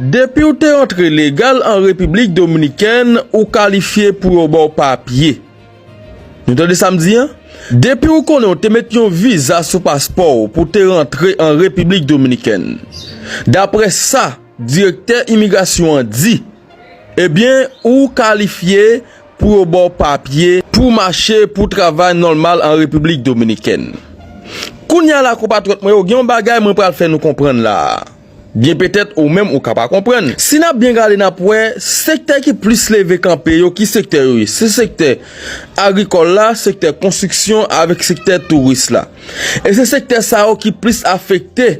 Depiw te antre legal an Repiblik Dominikèn ou kalifye pou yo baw papye. Nou tande sam di an? Depiw konnen w te met yon viza sou paspòw pou te rantre an Repiblik Dominikèn. Daprè sa direktè imigrasyon an di, ebyen ou kalifye pou yo baw papye pou mache pou travay nòlmal an Repiblik Dominikèn. Kounya la konpatriyòt mwen yo gen yon bagay mwen pral fè nou konprann la a. Byen petèt ou menm ou ka pa konprann. Si nap byen gade nap wè sektè ki plis leve kanpe yo ki sektè yo ye? Se sektè agrikòl la, sektè konstriksyon avèk sektè touris la. E se sektè sa yo ki plis afekte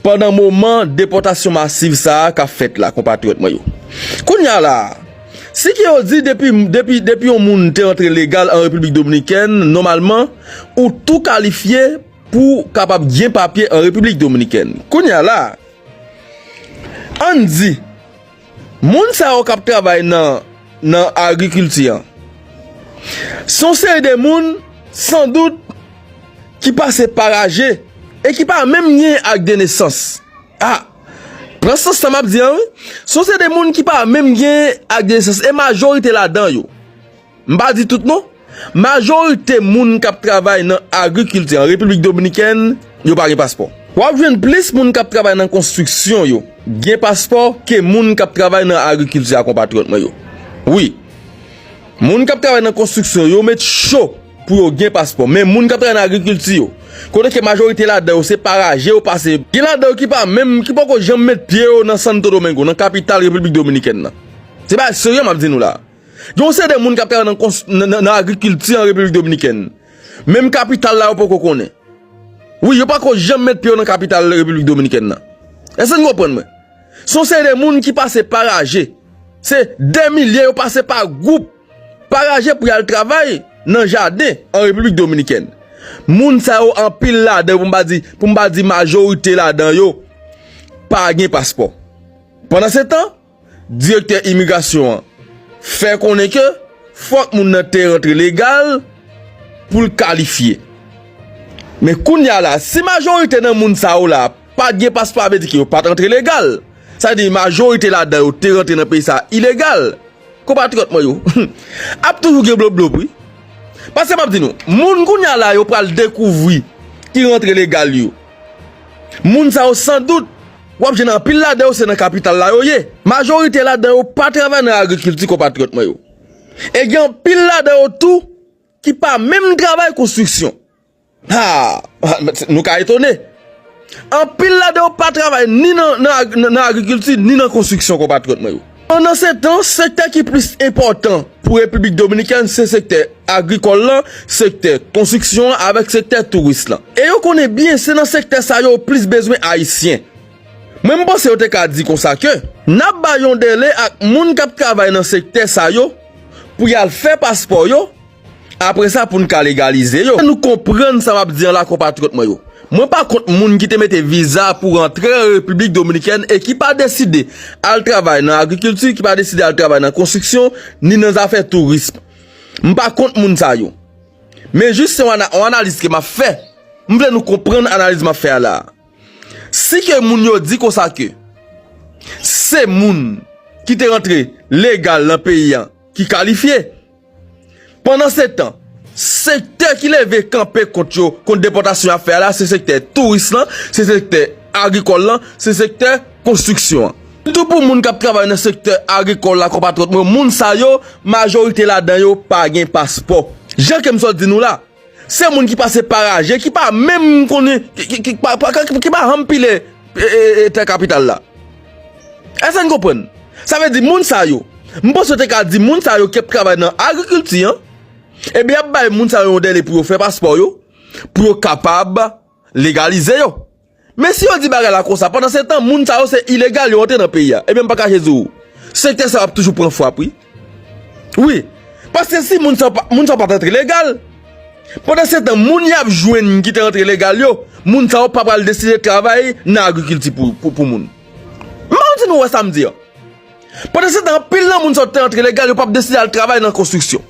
pandan moman depòtasyon masiv sa a kap fèt la konpatriyòt mwen yo. Kounye a la a, si ke yo di depi depi depi yon moun te antre legal an Repiblik Dominikèn nòmalman ou tou kalifye Pou w kapab gen papye an Repiblik Dominikèn. Kounye a la, ann di, moun sa yo k ap travay nan agrikilti an, se yon seri de moun sandout ki pase pa raje e ki pa menm gen ak de nesans. A, pran sans sa m ap di an wi. Se yon seri de moun ki pa menm gen ak de nesans e majorite ladan yo. M pa di tout non, majorite moun k ap travay nan agrikilti an Repiblik Dominikèn yo pa gen paspò. W ap jwenn plis moun k ap travay nan konstriksyon yo gen paspò ke moun k ap travay nan agrikilti a konpatriyòt mwen yo. Wi, moun k ap travay nan konstriksyon yo met cho pou yo gen paspò men moun k ap travay nan agrikilti yo, kote ke majorite ladan yo se paraje yo pase, gen ladan yo ki pa menm, ki poko janm met pye yo nan Santo Domingo, nan kapital Repiblik Dominikèn nan. Se bagay serye m ap di nou la a. Gen yon seri de moun k ap travay nan agrikilti an Repiblik Dominikèn. Menm kapital la yo poko konnen. Wi, yo pako janm met pye yo nan kapital Repiblik Dominikèn nan. Èske n konprann mwen? Se yon seri de moun ki pase pa raje. Se dè milye yo pase pa gwoup, pa raje pou y al travay nan jaden an Repiblik Dominikèn. Moun sa yo anpil ladan yo, pou m pa di majorite ladan yo, pa gen paspò. Pandansetan. Direktè imigrasyon an fè konnen ke fòk moun nan te rantre legal pou l kalifye. Men kounye a la, si majorite nan moun sa yo la pat gen paspò a vle di ke yo pat rantre legal. Sa vle di majorite ladan yo te rantre nan peyi sa a ilegal. Konpatriyòt mwen yo, ap toujou gen bloblob wi. Paske map di nou, moun kounye a la yo pral dekouvri ki rantre legal yo. Moun sa yo san dout. W ap jwenn anpil ladan yo se nan kapital la yo ye. Majorite ladan yo pa travay nan agrikilti konpatriyòt mwen yo. E gen anpil ladan yo tou ki pa menm travay konstriksyon. Ha! Nou ka etone. Anpil ladan yo pa travay ni nan agrikilti ni nan konstriksyon konpatriyòt mwen yo. Pandansetan, sektè ki plis enpòtan pou Repiblik Dominikèn se sektè agrikòl la, sektè konstriksyon an avèk sektè touris lan. E yo konnen byen se nan sektè sa yo plis bezwen Ayisyen. Mwen m panse yo te ka di konsa ke n ap bay yon dèle ak moun k ap travay nan sektè sa yo pou y al fè paspò yo, Apre sa pou n ka legalize yo. Fè nou konprann sa m ap di an la konpatriyòt mwen yo. Mwen pa kont moun ki te mete viza pou rantre an Repiblik Dominikèn e ki pa deside al travay nan agrikilti, ki pa deside al travay nan konstriksyon, ni nan zafè tourism. M pa kont moun sa yo. Men jis se yon analiz ke m ap fè. M vle nou konprann analiz m ap fè a la a. Si ke moun yo di konsa ke se moun ki te rantre legal nan peyi an ki kalifye, Pandan se tan, sektè ki leve kanpe kont yo, kont depòtasyon y ap fè a la, se sektè touris lan, se sektè agrikòl lan, se sektè konstriksyon an. Sitou pou moun k ap travay nan sektè agrikòl la konpatriyòt mwen, moun sa yo, majorite ladan yo pa gen paspò. Jan Kemsot di nou la, Se moun ki pase paraje, ki pa menm konnen, ki pa janm pile tè kapital la. Èske n konprann? Sa vle di moun sa yo, m panse yo te ka di moun sa yo ki ap travay nan agrikilti an, e byen y ap bay moun sa yo yon dèle pou yo fè paspò yo, pou yo kapab legalize yo. Men si yo di bagay la konsa, pandan se tan moun sa yo se ilegal yo antre nan peyi a. Ebyen m paka je di w, sektè sa yo ap toujou pran fwap wi. Wi, paske si moun sa yo pat antre legal, pandan se tan moun y ap jwenn ki te antre legal yo, moun sa yo pa pral deside travay nan agrikilti pou moun. M pa konn si nou wè sa m di an. Pandan se tan anpil nan moun sa yo ki te antre legal yo pap deside al travay nan konstriksyon.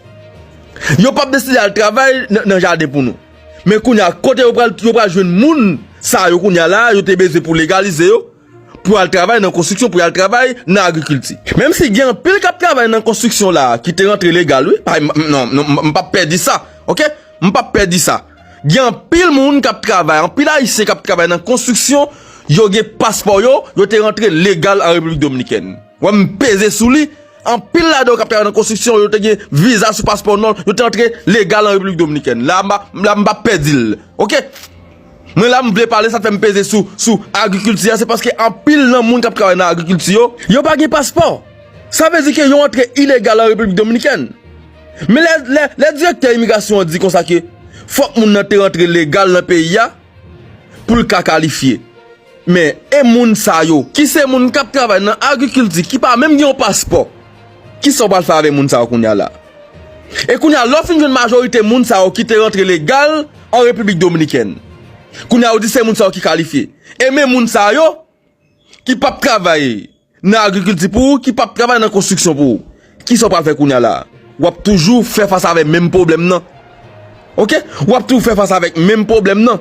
Yo pap deside al travay nan jaden pou nou. Men kounya kote yo pral yo pral jwenn moun sa yo kounya la yo te bezwen pou legalize yo pou al travay nan konstriksyon pou al travay nan agrikilti. Menm si gen anpil kap travay nan konstriksyon la ki te rantre legal wi pa non non m pap pè di sa ok m pap pè di sa gen anpil moun kap travay anpil ayisyen kap travay nan konstriksyon yo gen paspò yo yo te rantre legal an repiblik dominikèn wè m peze sou li Anpil ladan yo k ap travay nan konstriksyon yo te gen viza sou paspò non, yo te antre legal an Repiblik Dominikèn. La m pa pèdi l. Ok. Mwen la m vle pale sa fè m peze sou sou agrikilti a se paske anpil nan moun k ap travay nan agrikilti yo, yo pa gen paspò. Sa vle di ke yo antre ilegal an Repiblik Dominikèn. Men lè direktè imigrasyon an di konsa ke fòk moun nan te rantre legal nan peyi a, pou l ka kalifye. Men, e moun sa yo, ki se moun k ap travay nan agrikilti, ki pa menm gen yon paspò? Ki sa w pral fè avèk moun sa yo kounye a la? E kounye a, lè w fin jwenn majorite moun sa yo ki te rantre legal an Repiblik Dominikèn, kounye a ou di se moun sa yo ki kalifye. E men moun sa yo, ki p ap travay nan agrikilti pou ou, ki p ap travay nan konstriksyon pou ou? Ki sa w pral fè kounye a la? W ap toujou fè fas avè menm pwoblèm nan. Oke? W ap toujou fè fas avèk menm pwoblèm nan.